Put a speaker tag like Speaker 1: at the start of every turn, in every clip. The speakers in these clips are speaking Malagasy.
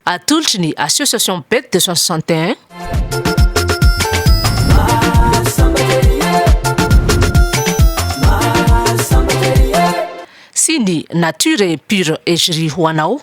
Speaker 1: Atolotry ny Association Bec 261. Sy ny Nature est pure Egri ho anao.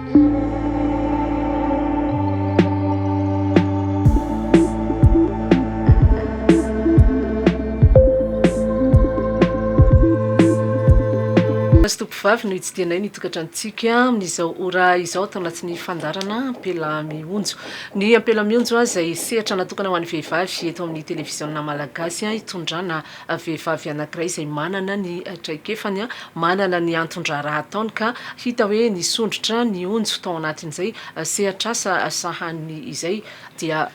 Speaker 1: Fa sy tompovavy no hitsidihanay ny tokantranontsika amin'izao ora izao ato anatin'ny fandaharana Ampela mionjo. Ny Ampela mionjo izay sehatra natokana ho an'ny vehivavy eto amin'ny televiziona malagasy itondrana vehivavy anankiray izay manana ny traikefany, manana ny anton-draharaha ataony ka hita hoe nisondrotra ny onjo tao anatin'izay sehatr'asa sahaniny izay dia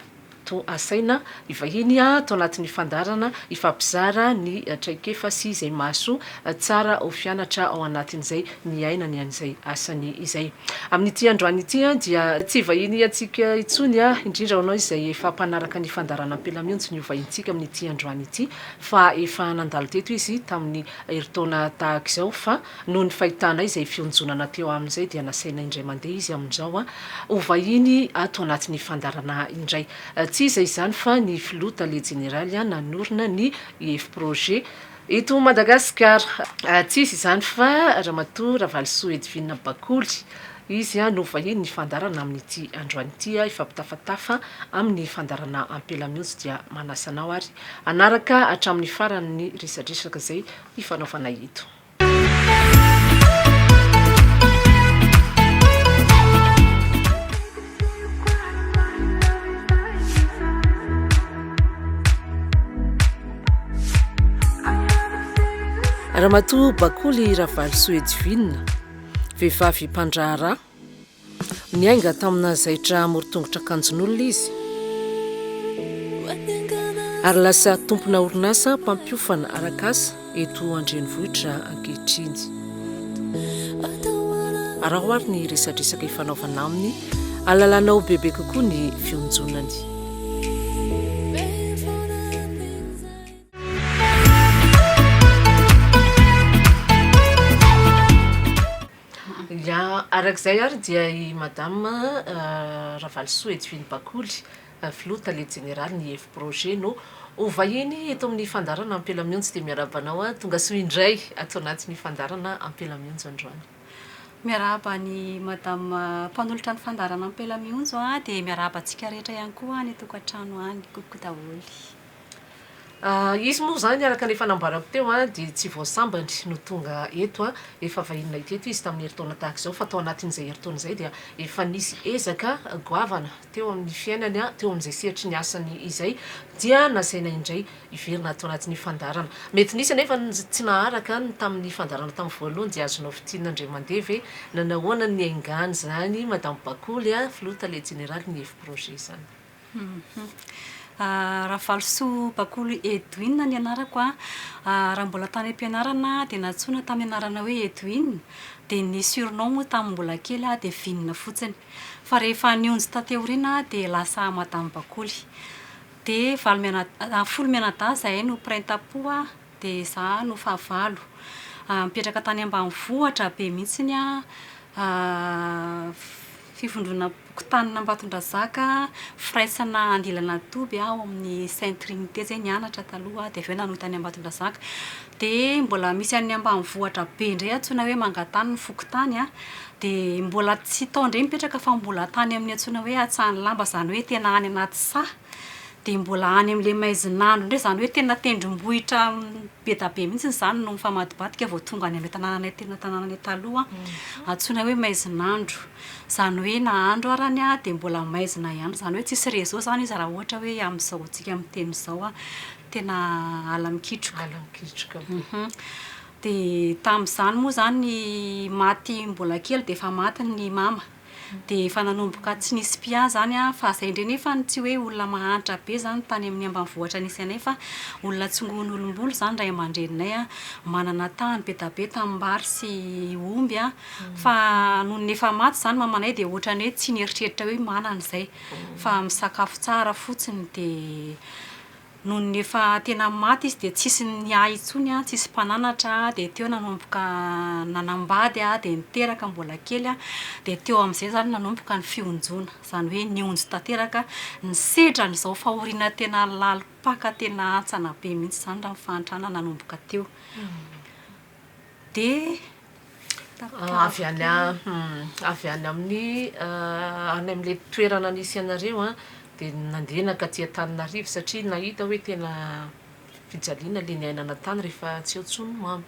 Speaker 1: toa asaina hivahiny ato anatin'ny fandaharana hifampizara ny traikefa sy izay mahasoa tsara ho fianatra ao anatin'izay niaina ny an'izay asany izay. Amin'ity androany ity dia tsy vahiny antsika intsony, indrindra ho anao izay efa mpanaraka ny fandaharana Ampela Mionjo ny hovahintsika amin'ity androany ity, fa efa nandalo teto izy tamin'ny herintaona tahaka izao, fa noho ny fahitanay izay fionjonana teo aminy izay dia nasainay indray mandeha izy amin'izao ho vahiny ato anatin'ny fandaharana indray. Tsy iza izany fa ny Filoha Tale Jeneraly nanorina ny IFProjet, Eto Madagasikara, tsy izy izany fa Ramatoa Ravalisoa Edvina Bakoly. Izy no vahiny hifandarana amin'ity androany ity, hifampitafatafa amin'ny fandaharana ampela mihitsy dia manasa anao ary hanaraka hatramin'ny farany ny resadresaka izay hifanaovanay eto. Ramatoa Bakoly Ravalosoa Edwina, vehivavy mpandraharaha, niainga tamina zaitra amoron-tongotra an-kanjon'olona izy ary lasa tompona orinasa mpampiofana arak'asa. eto an-drenivohitra ankehitriny. Araho ary ny resadresaka ifanaovana aminy, halalanao bebe kokoa ny fionjonany. Arak'izay ary dia i Madame Ravalosoa Edwine Bakoly Filoha Tale Jeneraly ny Efiprojet no ho vahiny eto amin'ny fandaharana Ampela Mionjy dia miarahaba anao tongasoa indray ato anatin'ny fandaharana Ampela Mionjy androany. Miarahaba
Speaker 2: an'i Madame mpanolotra ny fandaharana Ampela Mionjy dia miarahaba antsika rehetra ihany koa any an-tokantrano any, coucou daholo.
Speaker 1: Izy moa izany araka ny efa nambarako teo dia tsy vao sambany no tonga eto, efa vahiny nahita eto izy tamin'ny herintaona tahaka izao fa tao anatin'izay herintaona izay dia efa nisy ezaka goavana teo amin'ny fiainany, teo amin'izay sehatry ny asany izay dia nasaina indray hiverina ato anatin'ny fandaharana. Mety nisy anefa ny tsy naharaka ny tamin'ny fandaharana tamin'ny voalohany dia azonao fintinina indray mandeha ve na nahoana ny niaingan'izany Madame Bakoly, Filoha Tale Jeneralin'ny Hevi-Projet izany. Ravalosoa Bakolo Edwin ny anarako an, raha mbola tany am-pianarana aho dia nantsoina tamin'ny anarana hoe Edwin, dia ny surnom moa tamin'ny mbola kely aho dia Vinona fotsiny. Fa rehefa nionjy taty aoriana aho dia lasa Madame Bakoly. Dia valo mianadahy, folo mianadahy izahay no printapo an, dia izaho no fahavalo. Nipetraka tany ambanivohitra be mihitsy aho. Fivondronam-pokontanin'Ambatondrazaka, firaisana andilana toby ao amin'ny Sainte Trinité izay nianatra taloha dia avy eo nanota an'i Ambatondrazaka. Dia mbola misy an'ny ambanivohitra be indray antsoina hoe Mangatany ny fokontany an, dia mbola tsy tao indray mipetraka fa mbola tany amin'ny antsoina hoe Antsahanilamba izany hoe tena any anaty saha. Dia mbola any amin'ilay maizin'andro indray, izany hoe tena tendrombohitra be dia be mihitsy izany no mifamadibadika vao tonga any amin'ilay tanànanay tena tanànanay taloha, antsoina hoe maizin'andro. Izany hoe na andro ary ny ahy dia mbola maizina ihany, izany hoe tsisy réseau izany izy raha ohatra hoe amin'izao antsika miteny izao, tena ala mikitroka. Ala mikitroka be. Dia tamin'izany moa izany maty mbola kely dia efa maty ny mama.
Speaker 2: Dia efa nanomboka tsy nisy mpia zany an, fa zay ndre nefany tsy hoe olona mahantra be zany tany amin'ny ambanivohitra nisy anay fa olona tsingohin'olom-bolo zany ray aman-dreninay an, manana tany be da be tanimbary sy omby an, fa nony efa maty zany mamanay dia ohatrany hoe tsy nieritreritra hoe manana izay fa misakafo tsara fotsiny dia Nony efa tena maty izy dia tsisy niahy intsony an, tsisy mpananatra an, dia teo nanomboka nanambady an, dia niteraka mbola kely an, dia teo amin'izay izany nanomboka ny fionjoana, izany hoe nionjo tanteraka, nisedra an'izao fahoriana tena lalim-paka tena hantsana be mihitsy izany raha ny fahantrana nanomboka teo. dia
Speaker 1: avy any avy any amin'ny any amin'ilay toerana nisy anareo an dia nandeha nankaty Antananarivo satria nahita hoe tena fijaliana ilay niainana tany rehefa tsy eo intsony mama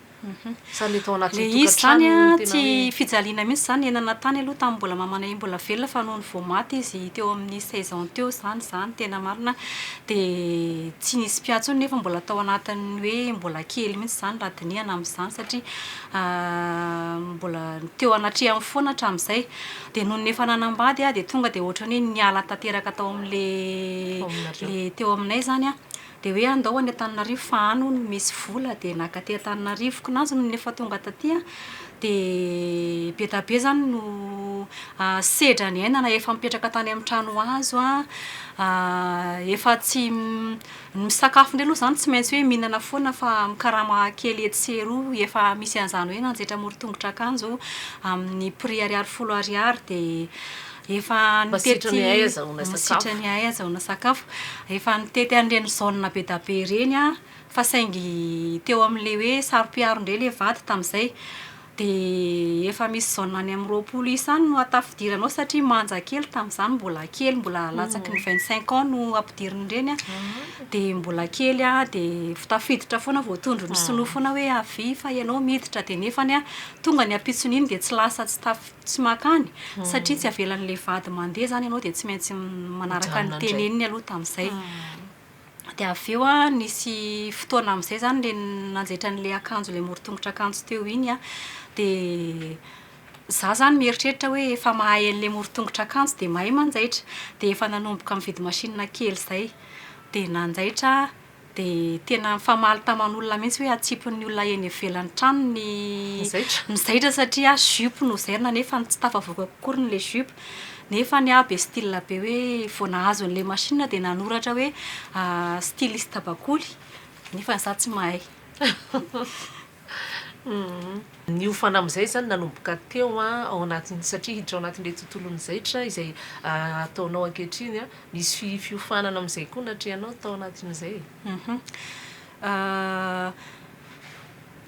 Speaker 1: sa ilay tao anaty tokantrano ilay izy izany an
Speaker 2: tsy fijaliana mihintsy izany niainana tany aloha tamin'ny mbola mamanay mbola velona fa nony vao maty izy teo amin'ny seize ans teo izany izany tena marina Dia tsy nisy mpiahy intsony nefa mbola tao anatin'ny hoe mbola kely mihitsy izany raha dinihana amin'izany satria mbola teo anatrehany foana hatramin'izay. Dia nony efa nanambady aho dia tonga dia ohatran'ny hoe niala tanteraka tao amin'ilay ilay teo aminay izany an, dia hoe andao any Antananarivo fa any hono misy vola, dia naka aty Antananarivo. Koa nazy nony efa tonga taty an, Dia be dia be izany no sedra niainana efa mipetraka tany amin'ny trano hazo an, efa tsy, ny misakafo indray aloha izany tsy maintsy hoe mihinana foana fa mikarama kely etsy sy eroa, efa misy an'izany hoe nanjaitra amoron-tongotra akanjo amin'ny prix ariary folo ariary dia efa nitety, masitrany ahy ahazahoana sakafo, efa nitety an'ireny zone be dia be ireny aho fa saingy teo amin'ilay hoe saro-piaro indray ilay vady tamin'izay dia efa misy zone any amin'ny roapolo isa any no atafidiranao satria manja kely tamin'izany mbola kely mbola latsaky ny vingt cinq ans no ampidirin'ireny an dia mbola kely an dia tafiditra foana vao tondro ny sinoa foana hoe avia fa ianao miditra dia nefany an tonga ny ampitsony iny dia tsy lasa tsy tafid- tsy makany satria tsy avelan'ilay vady mandeha izany ianao dia tsy maintsy manaraka ny teneniny aloha tamin'izay Dia avy eo an, nisy fotoana amin'izay izany ilay nanjaitra an'ilay akanjo, ilay morontongotr'akanjo teo iny an, dia izaho izany mieritreritra hoe efa mahay an'ilay morontongotr'akanjo dia mahay manjaitra. Dia efa nanomboka nividy machine kely izay. Dia nanjaitra aho, dia tena nifamaly taman'olona mihitsy hoe atsipin'ny olona eny ivelan'ny tranony ny mizaitra satria jupe no zairina nefa tsy tafavoaka akory ilay jupe. Nefa ny ahy be style be hoe vao nahazo an'ilay machine aho dia nanoratra hoe styliste bakoly nefa za tsy mahay.
Speaker 1: Niofana amin'izay izany nanomboka teo ao anatin'ny, satria hiditra ao anatin'ilay tontolon'ny zaitra izay ataonao ankehitriny, misy fiofanana amin'izay koa natrehanao tao anatin'izay e?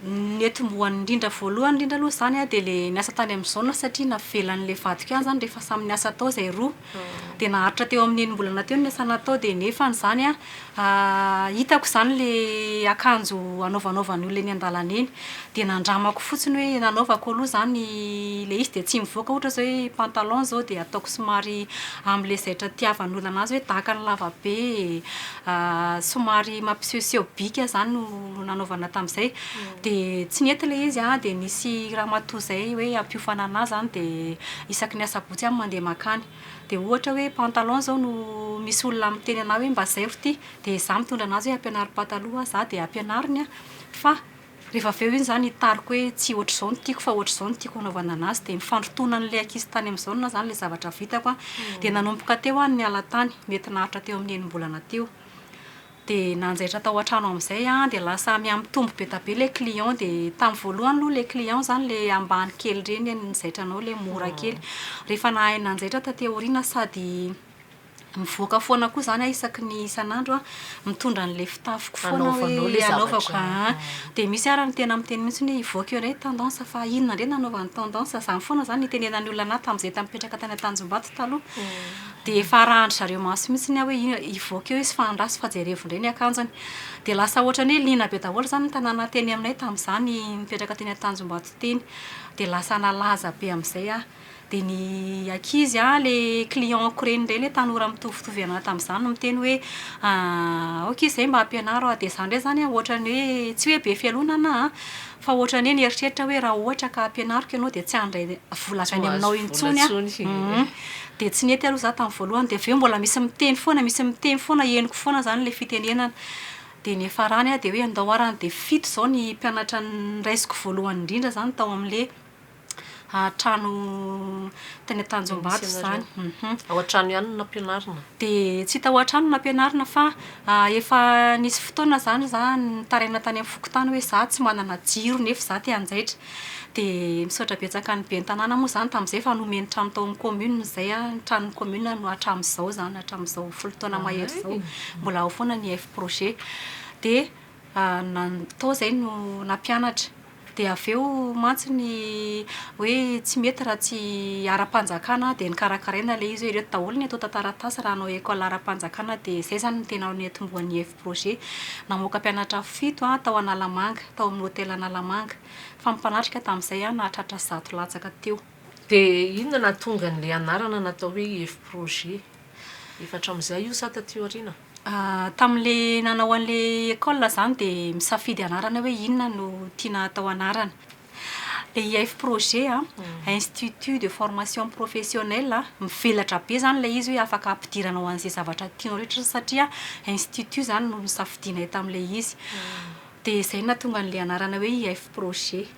Speaker 2: Ny atombohany indrindra voalohany indrindra aloha izany dia ilay niasa tany amin'ny zone satria navelan'ilay vadiko ihany izany rehefa samy niasa tao izay roa. Dia naharitra teo amin'ny enim-bolana teo ny niasa natao dia nefany izany hitako izany ilay akanjo anaovanaovan'ny olona eny an-dalana eny. Dia nandramako fotsiny hoe nanaovako aloha izany ilay izy dia tsy mivoaka ohatra izao hoe pantalon izao dia ataoko somary amin'ilay zaitra itiavan'ny olona an'azy hoe daka ny lavabe e. somary mampisehoseho bika zany no nanaovana tamzay de tsy nety le izy an de nisy ramatoa zay hoe hampiofana anah zany de isaky ny asabotsy aho mandeha makany de ohatra hoe pantalon zao no misy olona miteny anah hoe mba zairo ty de za mitondra anazy hoe ampianaro pataloha za de ampianariny an fa Rehefa avy eo iny zany hitariko hoe tsy ohatr'izao ny tiako fa ohatr'izao ny tiako hanaovana anazy dia ny fandrotoana an'ilay ankizy tany amin'izao na zany ilay zavatra vitako an dia nanomboka teo an ny ala tany mety naharitra teo amin'ny enim-bolana teo dia nanjaitra tao an-trano amin'izay an dia lasa mihamitombo be dia be ilay client dia tamin'ny voalohany aloha ilay client zany ilay ambany kely ireny ny zaitranao ilay mora kely rehefa nahay nanjaitra taty aoriana sady Mivoaka foana koa izany aho isaky ny isan'andro an, mitondra an'ilay fitafiko foana hoe hanaovanao ilay hanaovako zavatra. aa. Aa. Dia misy ara ny tena miteny mihitsy hoe hivoaka eo indray ny tendance fa inona indray no hanaovany tendance. Izany foana izany no nitenenan'ny olona an'ahy tamin'izahay tamin'ny nipetraka tany Antanjombato taloha. Dia efa arahan-dry zareo maso mihitsy ny ahy hoe inona, hivoaka eo izy fa andraso fa jerevo indray ny akanjony. Dia lasa ohatran'ny hoe liana be daholo izany ny tanàna teny aminay tamin'izaho nipetraka teny Antanjombato teny. Dia lasa nalaza be amin'izay aho. Dia ny ankizy an, ilay client-ko ireny indray, ilay tanora mitovitovy anà tamin'izany no miteny hoe aoka izy izay mba hampianaro ahy. Dia izany indray izany an, ohatran'ny hoe, tsy hoe be fialonana an, fa ohatran'ny hoe nieritreritra aho hoe raha ohatra ka hampianariko ianao dia tsy handray vola avy any aminao intsony aho. Dia tsy nety aloha izaho tamin'ny voalohany. Dia avy eo mbola misy miteny foana, misy miteny foana, henoko foana izany ilay fitenenana. Dia ny farany an, dia hoe andao ary an, dia fito izao ny mpianatra noraisiko voalohany indrindra izany tao amin'ilay Trano teny Tanjombato izany. Ao an-trano
Speaker 1: ihany no nampianarina? Dia tsy tao
Speaker 2: an-trano no nampianarina fa efa nisy fotoana izany za nitaraina tany amin'ny fokontany hoe za tsy manana jiro nefa za te hanjaitra. Dia misaotra betsaka ny ben'ny tanàna moa izany tamin'izay fa nomeny trano tao amin'ny kaominina izay aho. Ny tranon'ny kaominina no hatramin'izao izany, hatramin'izao folo taona mahery izao, mbola ao foana ny F-projet. Dia Tao izay no nampianatra. Dia avy eo mantsy ny hoe tsy mety raha tsy ara-panjakana dia nokarakaraina ilay izy hoe ireto daholo ny atao tantara-tantaratasy raha hanao école ara-panjakana dia izay izany no tena niantombohan'ny Eff Projet. Namoaka mpianatra fito tao Analamanga, tao amin'ny hotely Analamanga. Fa ny mpanatrika tamin'izay nahatratra zato latsaka teo. Dia inona
Speaker 1: no nahatonga an'ilay anarana natao hoe Eff Projet? Efa hatramin'izay io sa taty aoriana? Tamin'ilay
Speaker 2: nanao an'ilay école izany dia misafidy anarana hoe inona no tiana hatao anarana. Ilay IF projet an, Institut de formation professionnelle, mivelatra be izany ilay izy hoe afaka ampidirana ho an'izay zavatra tianao rehetra satria institut izany no nosafidianay tamin'ilay izy. Dia izay no nahatonga an'ilay anarana hoe IF Projet.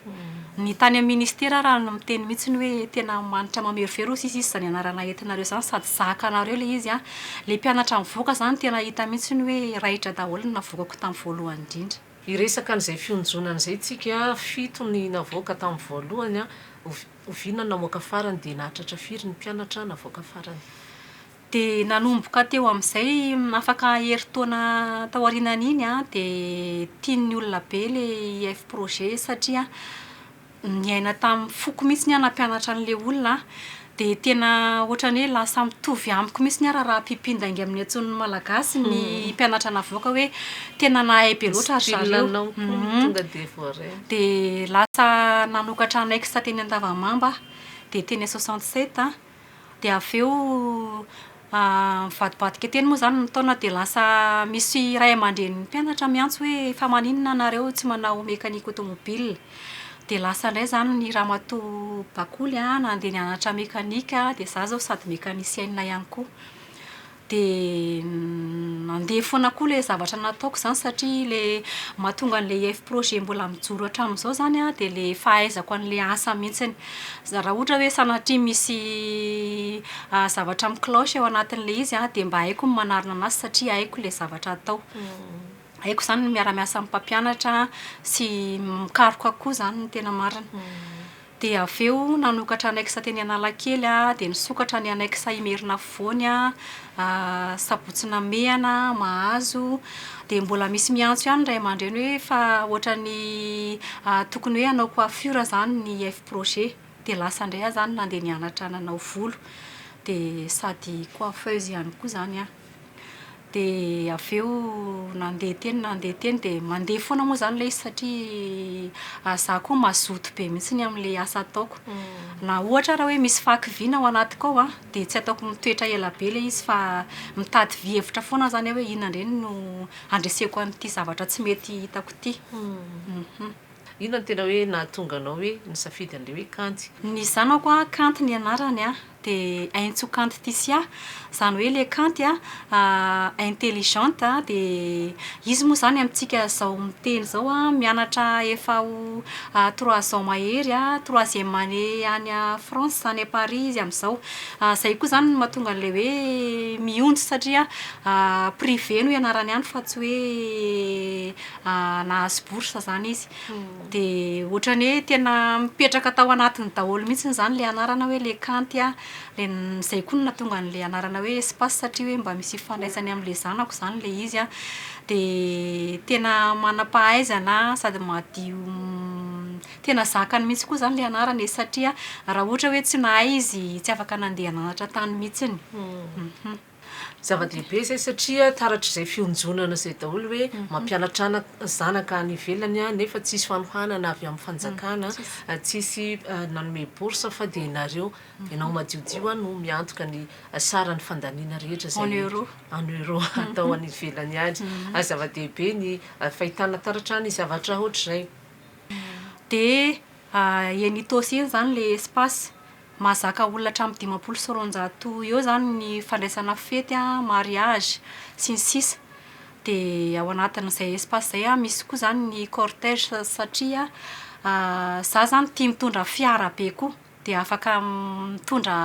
Speaker 2: Ny tany amin'ny Ministera ary no miteny mihitsy hoe tena manitra mamerovero hoy sisa izy izany anarana entinareo izany sady zaka anareo ilay izy an! Ilay mpianatra nivoaka izany tena hita mihitsy hoe raitra daholo ny navoakako tamin'ny voalohany indrindra. Hiresaka an'izay
Speaker 1: fionjonana izay isika, fito ny navoaka tamin'ny voalohany an! Oviana no namoaka farany dia nahatratra firy ny mpianatra navoaka farany? Dia
Speaker 2: nanomboka teo amin'izay, afaka herintaona taorianan'iny dia tian'ny olona be ilay IF Projet satria niaina tamin'ny foko mihitsy ny ahy nampianatra an'ilay olona aho. Dia tena ohatran'ny hoe lasa mitovy amiko mihitsy ny ahy raharaham-pimpindainga amin'ny antson'ny Malagasy ny mpianatra navoaka hoe tena nahay be loatra ry
Speaker 1: zareo. Dia lasa
Speaker 2: nanokatra annexe teny Andavamamba aho, dia teny Soixante-sept. Dia avy eo mivadibadika teny moa izany ny taona dia lasa misy ray aman-drenin'ny mpianatra miantso hoe fa maninona ianareo tsy manao mécanique automobile? Dia lasa indray izany ny ramatoa Bakoly nandeha nianatra mécanique dia izaho izao sady mécanicienne ihany koa. Dia nandeha foana koa ilay zavatra nataoko izany satria ilay mahatonga an'ilay ef projet mbola mijoro hatramin'izao izany an, dia ilay fahaizako an'ilay asa mihitsy. Izany raha ohatra hoe sanatria misy zavatra mi-cloche ao anatin'ilay izy an, dia mba haiko ny manarina anazy satria haiko ilay zavatra atao. Haiko izany ny miara-miasa amin'ny mpampianatra sy mikaroka koa izany ny tena marina. Dia avy eo nanokatra annexe teny Analakely aho, dia nisokatra ny annexe Imerina Afovoany aho, Sabotsy Namehana, Mahazo. Dia mbola misy miantso ihany ny ray aman-dreny hoe fa ohatran'ny tokony hoe hanao coiffure izany ny Fprojet. Dia lasa indray aho izany nandeha nianatra nanao volo. Dia sady coiffeuse ihany koa izany aho. Dia avy eo nandeha teny nandeha teny dia mandeha foana moa izany ilay izy satria izaho koa mazoto be mihitsy amin'ilay asa ataoko. Na ohatra ary hoe misy fàky vy ny ao anatiko ao an, dia tsy ataoko mitoetra ela be ilay izy fa mitady vy hevitra foana aho izany hoe inona indray no handreseko an'ity zavatra tsy mety hitako ity.
Speaker 1: Inona no tena hoe nahatonga anao hoe nisafidy an'ilay hoe Kanty? Ny zanako a,
Speaker 2: Kanty ny anarany a, dia Entso Kanty Tisia, izany hoe ilay Kanty a, intelligente a, dia izy moa izany amintsika izao miteny izao a, mianatra efa ho trois ans mahery a, troisième année any France any à Paris izy amin'izao. Izay koa izany no mahatonga an'ilay hoe mionjy satria privé no ianarany any fa tsy hoe nahazo bourse izany izy. Dia ohatran'ny hoe tena mipetraka tao anatiny daholo mihitsy izany ilay anarana hoe les Kanty. Dia izay koa no nahatonga an'ilay anarana hoe Espace satria hoe mba misy ifandraisany amin'ilay zanako izany ilay izy an. Dia tena manam-pahaizana sady madio tena zakany mihitsy koa izany ilay anarana e. Satria raha ohatra hoe tsy nahay izy tsy afaka nandeha nanatra tany mihitsy.
Speaker 1: Zava-dehibe izay satria taratr'izay fionjonana izay daholo hoe mampianatra ana zanaka any ivelany nefa tsisy fanohanana avy amin'ny fanjakana, tsisy nanome bourse fa dia nareo ianao madiodio a no miantoka ny saran'ny fandaniana rehetra izay en euro en euro atao any ivelany any. Zava-dehibe ny fahitana taratra ny zavatra hoatr'izay.
Speaker 2: Dia eny Itaosy eny izany ilay espace Mahazaka olona hatramin'ny dimampolo sy roanjato eo izany ny fandraisana fety, mariage, sy ny sisa Dia ao anatin'izay espace izay misy koa izany ny cortège satria izaho izany tia mitondra fiara be koa dia afaka mitondra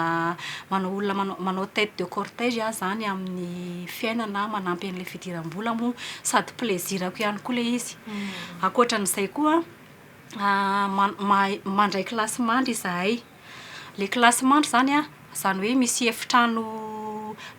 Speaker 2: manao olona manao tête de cortège aho izany amin'ny fiainana manampy an'ilay fidiram-bola moa sady plaisir-ko ihany koa ilay izy Ankoatra an'izay koa mandray kilasy mandry izahay. Ilay kilasy mandry izany an, izany hoe misy efitrano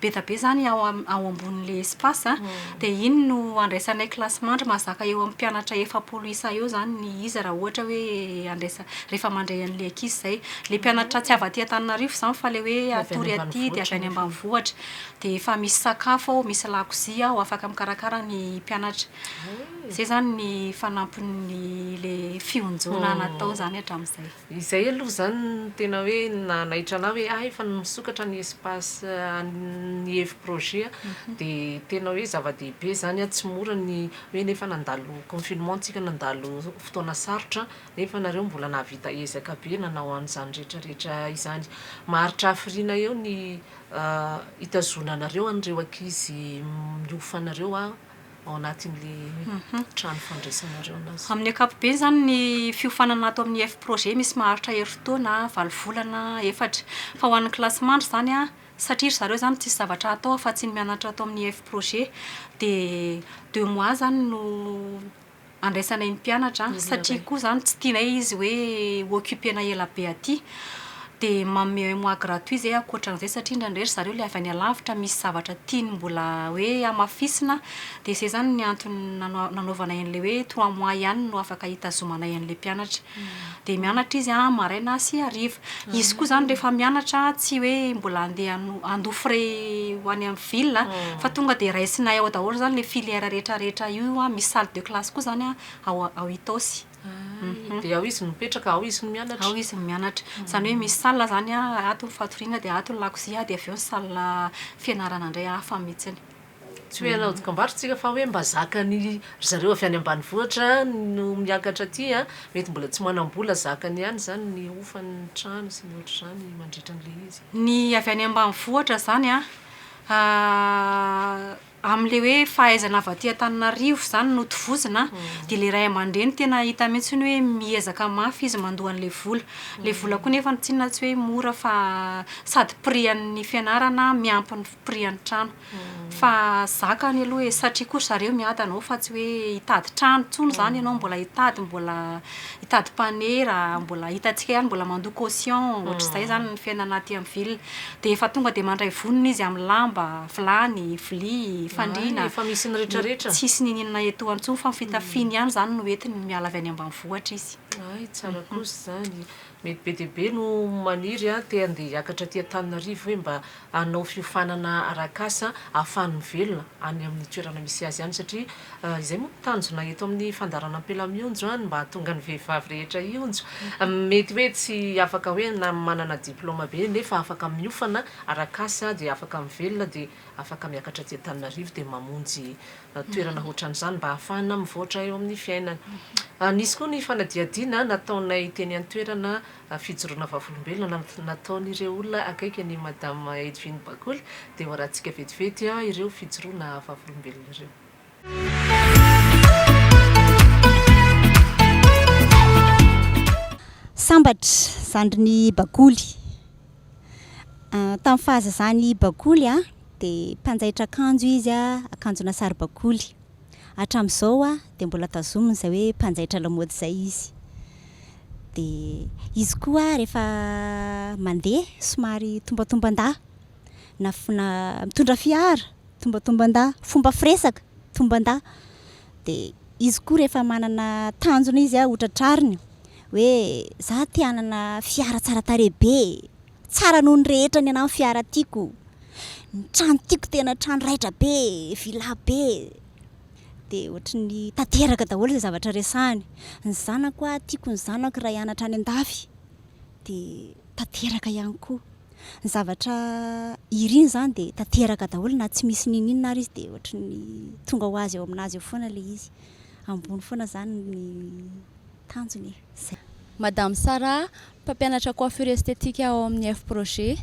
Speaker 2: be dia be izany ao ambonin'ilay espace an, dia iny no andraisanay kilasy mandry. Mahazaka eo amin'ny mpianatra efapolo isa eo izany ny izy raha ohatra hoe andraisa- rehefa mandray an'ilay ankizy izay. Ilay mpianatra tsy avy aty Antananarivo izany fa ilay hoe hatory aty dia avy any ambanivohitra. Dia efa misy sakafo ao, misy lakozia ao, afaka mikarakara ny mpianatra. Zay zany ny fanampin'ny le fionjoana natao zany hatramin'izay. Izay aloha izany
Speaker 1: no tena hoe nanaitra anah hoe ah efa misokatra ny espace an'ny Evo Projet dia tena hoe zava-dehibe izany an, tsy mora ny hoe nefa nandalo confinement tsika nandalo fotoana sarotra nefa nareo mbola nahavita ezaka be nanao an'izany rehetra rehetra izany. Maharitra hafiriana eo ny hitazonanareo an'ireo ankizy miofa anareo an. ao anatin'ilay trano fandraisanareo anazy. Amin'ny ankapobeny izany
Speaker 2: ny fiofanana ato amin'ny F-Projet misy maharitra herintaona valo volana efatra. Fa ho an'ny kilasy mandry izany, satria ry zareo izany tsisy zavatra hatao afa-tsy ny mianatra ato amin'ny F-Projet, dia deux mois izany no andraisanay ny mpianatra satria koa zany tsy tianay izy hoe ho occuper-na ela be aty dia manome un mois gratuit zay ankoatran'izay satria indraindray ry zareo ilay avy any alavitra misy zavatra tiany mbola hoe hamafisina dia izay zany ny antony nanaovanay an'ilay hoe trois mois ihany no afaka hitazomanay an'ilay mpianatra Dia mianatra izy an, maraina sy hariva. Izy koa izany rehefa mianatra an, tsy hoe mbola handeha hano- handoa frais ho any amin'ny ville an, fa tonga dia raisinay ao daholo izany ilay filière rehetra rehetra io an, misy salle de classe koa izany an ao ao Itaosy. Hum. Dia ao
Speaker 1: izy no mipetraka, ao izy no mianatra? Ao izy no mianatra.
Speaker 2: Izany hoe misy salle izany an, ato ny fatoriana dia ato ny lakozia dia avy eo ny salle fianarana indray hafa mihitsiny. Tsy hoe hanao
Speaker 1: dokam-barotra isika fa hoe mba zakan'ny ry zareo avy any ambanivohitra no miakatra aty a, mety mbola tsy manam-bola zakany ihany izany ny hofan'ny trano sy ny ohatr'izany mandritra an'ilay izy. Ny avy any
Speaker 2: ambanivohitra izany an, amin'ilay hoe fahaizana avy aty Antananarivo izany no tovozina an, dia ilay ray aman-dreny tena hita mihitsy hoe miezaka mafy izy mandoa an'ilay vola. Ilay vola koa anefa tsinona tsy hoe mora fa sady prix an'ny fianarana miampy ny prix an'ny trano. Fa zaka any aloha e, satria koa ry zareo miady anao fa tsy hoe hitady trano intsony izany ianao, mbola hitady mbola hitady mpanera, mbola hitantsika ihany mbola mandoa caution, ohatr'izay izany ny fiainana aty amin'ny ville. Dia efa tonga dia mandray vonona izy amin'ny lamba, vilany, vilia, fandriana. Efa misy ny rehetrarehetra.
Speaker 1: Tsisy niniana etoana
Speaker 2: intsony fa ny fitafiany ihany izany no entiny miala avy any ambanivohitra izy. Hay, tsara kosa
Speaker 1: izany. Mety be dia be no maniry te handeha hiakatra aty Antananarivo hoe mba hanao fiofanana arak'asa ahafahany mivelona any amin'ny toerana misy azy any satria izay moa no tanjona eto amin'ny fandaharana Ampela mionjo any mba hahatonga ny vehivavy rehetra hionjo. Mety hoe tsy afaka hoe na manana diplaoma be nefa afaka miofana arak'asa dia afaka mivelona dia afaka miakatra aty Antananarivo dia mamonjy toerana hoatran'izany mba hahafahana mivoatra eo amin'ny fiainana. Nisy koa ny fanadihadiana nataonay teny an-toerana fijoroana vavolombelona nataon'ireo olona akaiky an'i Madame Edvine Bakoly dia hoarahantsika vetivety ireo fijoroana vavolombelona ireo.
Speaker 3: Sambatra, zandrin'i Bakoly. Tamin'ny fahazazany i Bakoly dia mpanjaitra akanjo izy, akanjona saribakoly. Hatramin'izao dia mbola tazominy izay hoe mpanjaitra lamaody izay izy. Dia izy koa rehefa mandeha somary tombantomban-dahy, na, na mitondra fiara, tombantomban-dahy, fomba firesaka, tomban-dahy. dia izy koa rehefa manana tanjona izy a, ohatra trariny hoe za te hanana fiara tsara tarehy be e, tsara noho ny rehetra ny anah ny fiara tiako, ny trano tiako tena trano raitra be e, villa be e, dia ohatra ny tanteraka daholo izay zavatra resahiny, ny zanako a, tiako ny zanako raha hianatra any an-dafy, dia tanteraka ihany koa. ny zavatra iriny izany dia tanteraka daholo na tsy misy n'inon'inona ary izy dia ohatry ny tonga ho azy ao amin'azy ao foana ilay izy. Ambony foana izany ny tanjony e. Izay. Madame
Speaker 4: Sarah, mpampianatra coiffure esthétique ao amin'ny F-projet.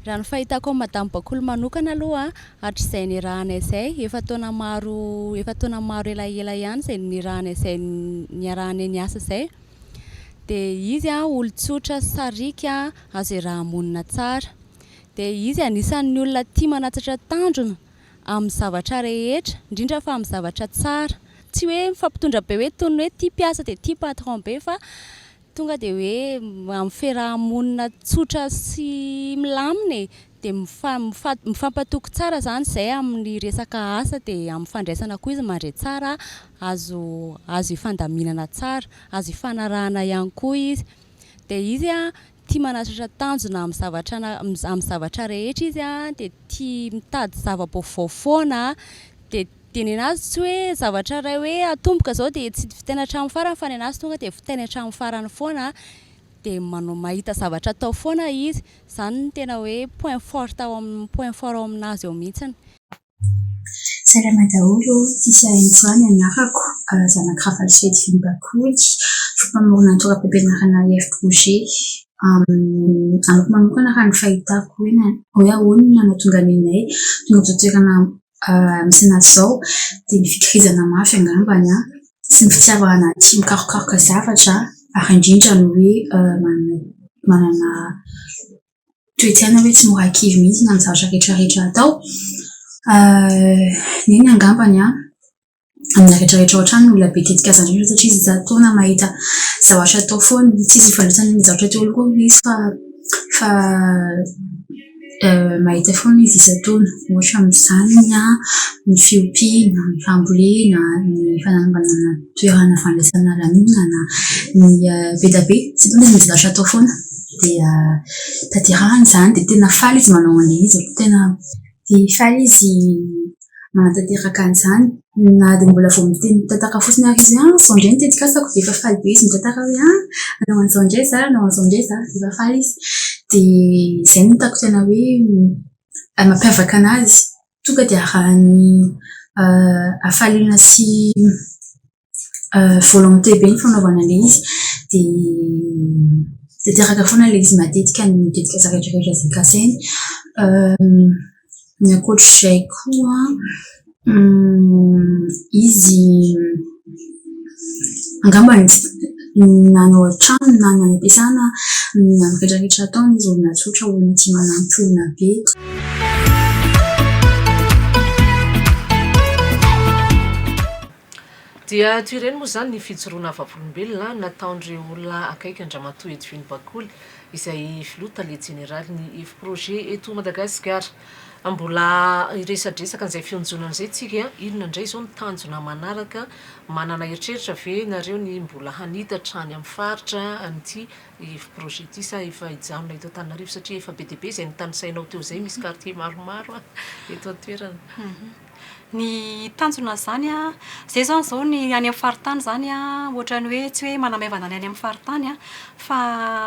Speaker 4: Raha ny fahitako an'i Madame Bakoly manokana aloha hatrizay niarahana izay, efa taona maro efa taona maro elaela ihany izay niarahana izay niarahanay niasa izay, dia izy olon-tsotra sariaka azo iaraha-monina tsara, dia izy anisan'ny olona tia manatsatra tanjona amin'ny zavatra rehetra, indrindra fa amin'ny zavatra tsara, tsy hoe mifampitondra be hoe toy ny hoe tia mpiasa dia tia patron be fa tonga dia hoe amin'ny fiaraha-monina tsotra sy milamina e! dia mifampatoky tsara izany izay amin'ny resaka asa dia amin'ny fandraisana koa izy mandray tsara azo azo ifandaminana tsara azo ifanarahana ihany koa izy dia izy an tia manatratra tanjona amin'ny zavatra amin'ny zavatra rehetra izy an dia tia mitady zava-baovao foana dia dia ny anazy tsy hoe zavatra iray hoe atomboka izao dia tsy vitaina hatramin'ny farany fa ny anazy tonga dia vitaina hatramin'ny farany foana dia manao mahita zavatra atao foana izy Zany no tena hoe point forte ao amin point fort ao aminazy ao mihitsiny.
Speaker 5: Salama daholo o! Tisia Enjoy ny anarako, zanak'i Rafalisoa Edvin Bakoly, mpamorona ny toeram-pampianarana Air Projet. Amiko manokana raha ny fahitako hoe ahoana no nahatonga anay tonga eto an-toerana Misy an'azy izao dia ny fikirizana mafy angamba sy ny fitiavana tia mikarokaroka zavatra ary indrindra ny hoe manana toe-tsaina hoe tsy mora kivy mihitsy amin'ny zavatra rehetra rehetra atao. Iny angambany an! amina rehetra rehetra ao an-trano ny olona be tetikasa indrindra satria izy isan-taona mahita zavatra atao foana, tsy izy nivarotana ny zavatra teo aloha koa ve izy fa fa mahita foana izy isan-taona ohatra amin'izany ny ahy ny fiompiana, ny fambolena, ny fananganana toerana fandraisana lanonana, ny be dia be satria misy zavatra atao foana dia tanterahina izany dia tena faly izy manao an'ilay izy, tena dia faly izy manatanteraka an'izany na dia mbola vao miteny mitantara fotsiny ary izy hoe izao indray ny tetikasako dia efa faly be izy mitantara hoe hanao an'izao indray izaho, hanao an'izao indray izaho dia efa faly izy. Dia izay no hitako tena hoe mampiavaka an'azy, tonga dia arahiny hafaliana sy ... volonté be ny fanaovana ilay izy dia tanteraka foana ilay izy matetika ny didin'ny zavatra rehetra izay kasainy. Ny ankoatra izay koa izy angamba na ny ao an-trano na ny any am-piasana na ny amin'ny rehetra rehetra ataony izy olona tsotra olona tsy manampy olona be
Speaker 1: Dia toy ireny moa izany ny fijoroana vavolombelona nataon'ireo olona akaiky an-dRamatoa Edwin Bakoly izay Filoha Tale Jeneralin'ny Efi-Projet eto Madagasikara. Mbola hiresadresaka an'izay fionjonana izay tsika, inona indray izao ny tanjona manaraka, manana eritreritra ve nareo ny mbola hanita hatrany amin'ny faritra an'ity Efi-Projet ity sa efa hijanona eto Antananarivo satria efa be dia be izay notanisainao teo izay, misy quartier maromaro eto an-toerana. ny
Speaker 2: tanjona an'izany an, izay izany izao ny any amin'ny faritany izany an, ohatran'ny hoe tsy hoe manamaivana ny any amin'ny faritany an, fa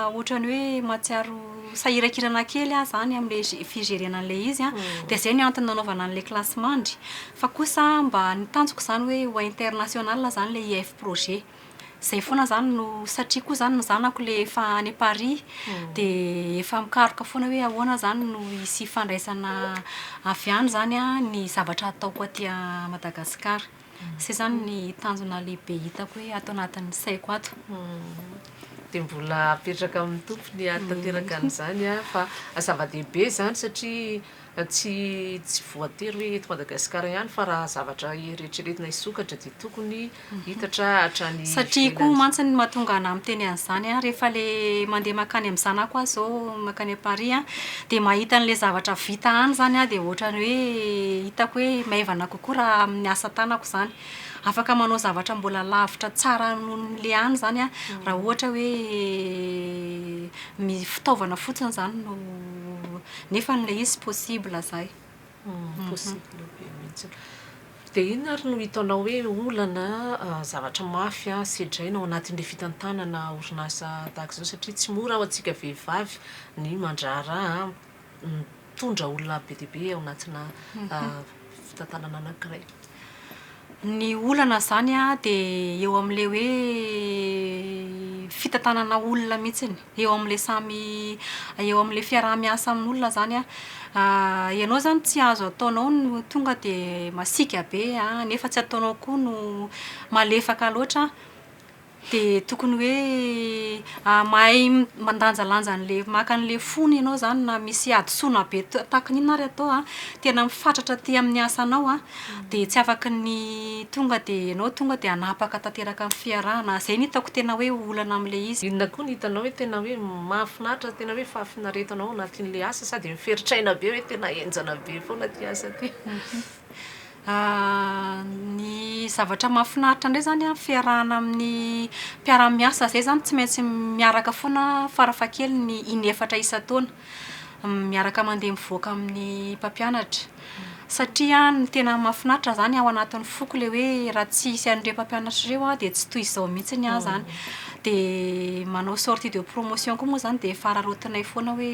Speaker 2: ohatran'ny hoe mahatsiaro sahirankirana kely aho izany amin'ilay fijerena an'ilay izy an, dia izay no antony nanaovana an'ilay kilasimandry. Fa kosa mba ny tanjoko izany hoe ho international izany ilay IF projet. Izay foana izany no, satria koa izany ny zanako ilay efa any Paris, dia efa mikaroka foana hoe ahoana izany no hisy ifandraisana avy any izany an, ny zavatra ataoko aty Madagasikara. Izay izany ny tanjona lehibe hitako hoe ato anatin'ny saiko ato.
Speaker 1: Dia mbola apetraka amin'ny Tompo ny hahatanteraka an'izany an, fa zava-dehibe izany satria. Tsy tsy voatery hoe eto Madagasikara ihany fa raha zavatra eritreretina hisokatra dia tokony hitatra hatrany ivelany. Satria koa mantsy
Speaker 2: ny mahatonga anah miteny an'izany an, rehefa le mandeha makany amin'ny zanako aho izao makany à Paris an, dia mahita an'ilay zavatra vita any izany aho dia ohatrany hoe hitako hoe maivana kokoa raha amin'ny asa tanako izany. Afaka manao zavatra mbola lavitra tsara noho ny le any izany an, raha ohatra hoe ny fitaovana fotsiny izany no Nefa an'ilay izy possible zay. Possible
Speaker 1: be mihitsy. Dia inona ary no hitanao hoe olana, zavatra mafy sedraina ao anatin'ilay fitantanana orinasa tahaka izao satria tsy mora ho antsika vehivavy ny mandraharaha mitondra olona be dia be ao anatina fitantanana anankiray.
Speaker 2: Ny olana izany dia eo amin'ilay hoe fitantanana olona mihitsy, eo amin'ilay samy eo amin'ilay fiaraha-miasa amin'olona izany. Ianao izany tsy azo ataonao no tonga dia masiaka be nefa tsy ataonao koa no malefaka loatra. Dia tokony hoe mahay mandanjalanja an'ilay maka an'ilay fony ianao izany na misy hadisoana be tahaka ny inona ary atao an, tena mifatratra aty amin'ny asanao an, dia tsy afaka ny tonga dia ianao tonga dia hanapaka tanteraka ny fiarahana. Izay no hitako tena hoe olana amin'ilay izy. Inona koa no hitanao hoe
Speaker 1: tena hoe mahafinaritra, tena hoe fahafinaretanao ao anatin'ilay asa sa dia miferitra aina be hoe tena henjana be foana ity asa ity?
Speaker 2: Ny zavatra mahafinaritra indray izany amin'ny fiarahana amin'ny mpiara-miasa izay izany tsy maintsy miaraka foana farafahakeliny in'efatra isan-taona, miaraka mandeha mivoaka amin'ny mpampianatra. Satria ny tena mahafinaritra izany ao anatin'ny foko ilay hoe raha tsy hisy an'ireo mpampianatra ireo aho dia tsy toy izao mihitsy ny ahy izany. Dia manao sortie de promotion koa moa izany dia efa araraotinay foana hoe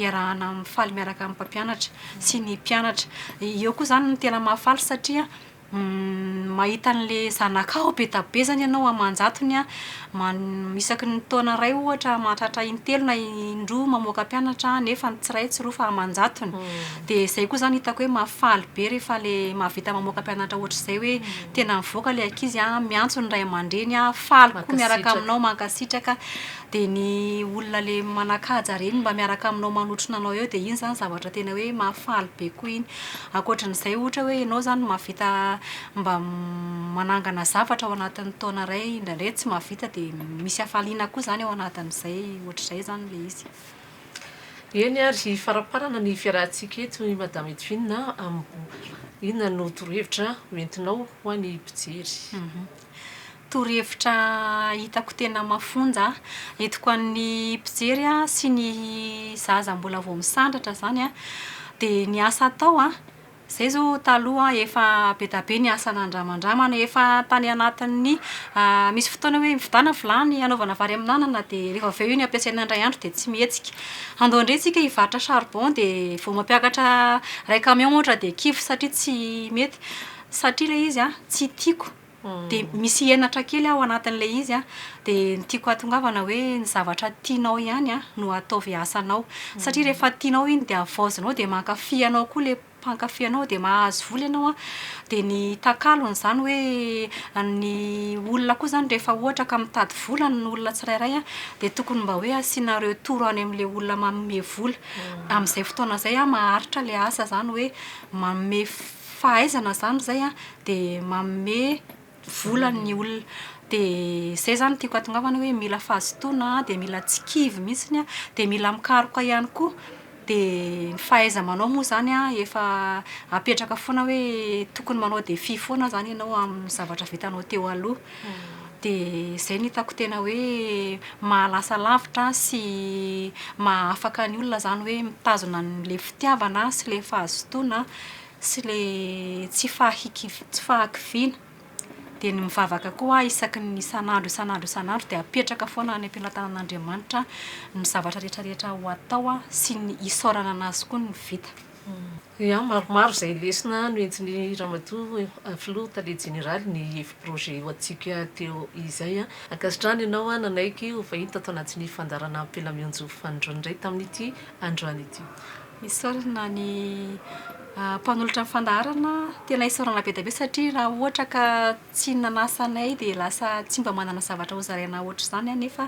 Speaker 2: iarahana mifaly miaraka amin'ny mpampianatra. sy ny mpianatra. Eo koa izany no tena mahafaly satria mahita an'ilay zanakao be dia be izany ianao aman-jatony man- isaky ny taona iray ohatra mahatratra in-telo na in-droa mamoaka mpianatra nefa tsy iray tsy roa fa aman-jatony. Dia izay koa izany hitako hoe mahafaly be rehefa ilay mahavita mamoaka mpianatra ohatr'izay hoe tena mivoaka ilay ankizy an, miantso ny ray aman-dreny an, faly koa miaraka aminao, mankasitraka. Dia ny olona le manakaja reny mba miaraka aminao manotrona anao eo dia iny zany zavatra tena hoe mahafaly be koa iny. Ankoatran'izay ohatra hoe ianao izany mahavita mba manangana zavatra ao anatin'ny taona iray indraindray tsy mahavita dia misy hafaliana koa izany ao anatin'izay ohatr'izay izany ilay izy.
Speaker 1: Eny ary faraparana ny fiarahantsika eto i Madame Edwina inona no torohevitra ho entinao ho an'ny mpijery. Torohevitra
Speaker 2: hitako tena mafonja entiko an'ny mpijery sy ny zaza mbola vao misandratra izany dia ny asa atao an, izay izao taloha efa be dia be ny asa nandramandramana efa tany anatin'ny misy fotoana hoe mividiana vilany hanaovana vary amin'anana dia rehefa avy eo iny ampiasaina indray andro dia tsy mihetsika. Andao indray isika hivarotra charbon dia vao mampiakatra iray camion ohatra dia kivy satria tsy mety satria ilay izy an tsy tiako dia misy henatra kely ao anatin'ilay izy an, dia ny tiako hahatongavana hoe ny zavatra tianao ihany an no ataovy asanao, satria rehefa tianao iny dia havaozinao dia mankafy anao koa ilay mpankafy anao dia mahazo vola ianao an, dia ny takalon'izany hoe ny olona koa izany rehefa ohatra ka mitady vola ny olona tsirairay an, dia tokony mba hoe asiana retour any amin'ilay olona manome vola, amin'izay fotoana izay an maharitra ilay asa izany hoe manome fahaizana zany izay an, dia manome vola ny olona. Dia izay izany no tiako hahatongavana hoe mila fahazotoana, dia mila tsy kivy mihitsy an, dia mila mikaroka ihany koa. Dia ny fahaiza-manao moa izany an, efa apetraka foana hoe tokony manao défi foana izany ianao amin'ny zavatra vitanao teo aloha. Dia izay no hitako tena hoe mahalasa lavitra sy maha-afaka ny olona izany hoe mitazona an'ilay fitiavana sy ilay fahazotoana sy ilay tsy fahakiviana. Dia ny mivavaka koa aho isaky ny isan'andro isan'andro isan'andro dia apetraka foana any am-pelatanan'Andriamanitra ny zavatra rehetrarehetra ho atao sy ny isaorana an'Azy koa ny vita. Ia,
Speaker 1: maromaro izay lesona no entin'i Ramatoa Filoha Tale Jeneraly ny hevi-projet io antsika teo izay. Ankasitrahana ianao nanaiky ho vahiny tato anatin'ny fandaharana Ampelamionjo Fanindroany indray tamin'ity androany ity. Isaorana
Speaker 2: ny mpanolotra ny fandaharana, tena isaorana be dia be satria raha ohatra ka Tsy ny nanasa anay dia lasa tsy mba manana zavatra hozaraina hoatr'izany aho nefa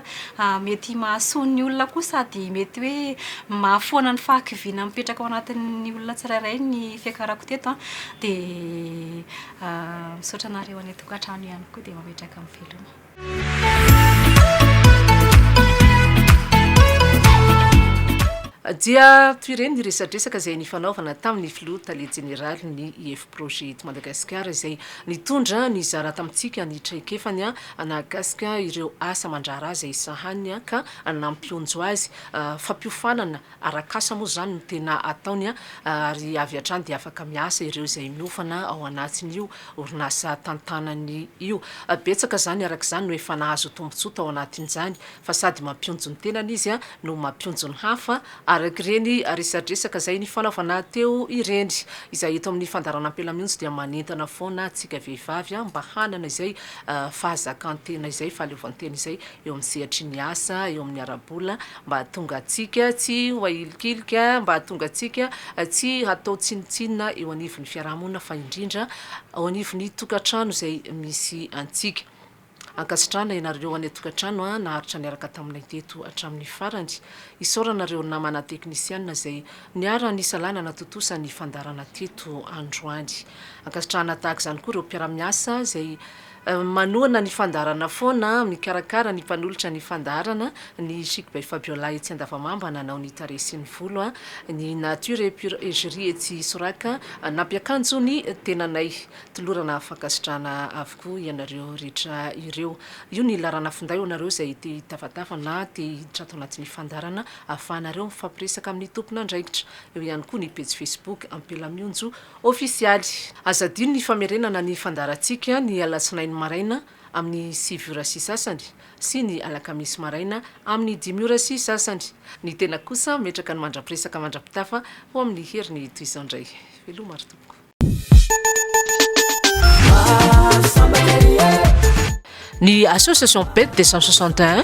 Speaker 2: mety mahasoa ny olona koa sady mety hoe mahafoana ny fahakiviana mipetraka ao anatin'ny olona tsirairay ny fiakarako teto an, dia misaotra anareo anay tokantrano ihany koa dia mametraka miveloma.
Speaker 1: Dia toy ireny ny resadresaka izay nifanaovana tamin'ny filoha tale jeneraly ny IF Projet eto Madagasikara izay nitondra nizara tamintsika ny traikefany nahakasika ireo asa aman-draharaha izay sahaniny ka nampionjo azy fampiofanana Arak'asa moa izany no tena ataony ary avy hatrany dia afaka miasa ireo izay miofana ao anatin'io orinasa tantanany io. Betsaka izany araka izany no efa nahazo tombontsoa tao anatin'izany fa sady mampionjo ny tenany izy no mampionjo ny hafa arak'ireny resadresaka izay nifanaovana teo ireny. Izay eto amin'ny fandaharan'Ampelamionjo dia manentana foana antsika vehivavy mba hanana izay fahazakantena izay, fahaleovantena izay eo amin'ny sehatry ny asa, eo amin'ny ara-bola, Mba hahatonga antsika tsy ho ahilikilika, mba hahatonga antsika tsy hatao tsinontsinona eo anivon'ny fiarahamonina fa indrindra ao anivon'ny tokantrano izay misy antsika. Ankasitrahana ianareo any an-tokantrano naharitra niaraka taminay teto hatramin'ny farany. Isaorana ireo namana teknisiana izay niara-nisalahy nanatontosa ny fandaharana teto androany. Ankasitrahana tahaka izany koa ireo mpiara-miasa izay Manohana ny fandaharana foana, mikarakara ny mpanolotra ny fandaharana, ny Chic by Fabiola etsy Andavamamba nanao ny tarehy sy ny volo, ny Nature et Pure Egérie etsy Soraka nampiakanjo ny tenanay. Tolorana fankasitrahana avokoa ianareo rehetra ireo. Io ny laharana finday ho anareo izay te hitafatafa na te hiditra ato anatin'ny fandaharana ahafahanareo mifampiresaka amin'ny tompon'andraikitra. Eo ihany koa ny pejy Facebook Ampela Mionjo Ofisialy, aza adino ny famerenana ny fandaharantsika ny alatsinainy maraina amin'ny sivy ora sy sasany sy ny alakamisy maraina amin'ny dimy ora sy sasany. Ny tena kosa metraka ny mandra-piresaka mandra-pitafa ho amin'ny heriny toy izao indray. Veloma ry tompoko. Ny Association Pet deux cent soixante et un.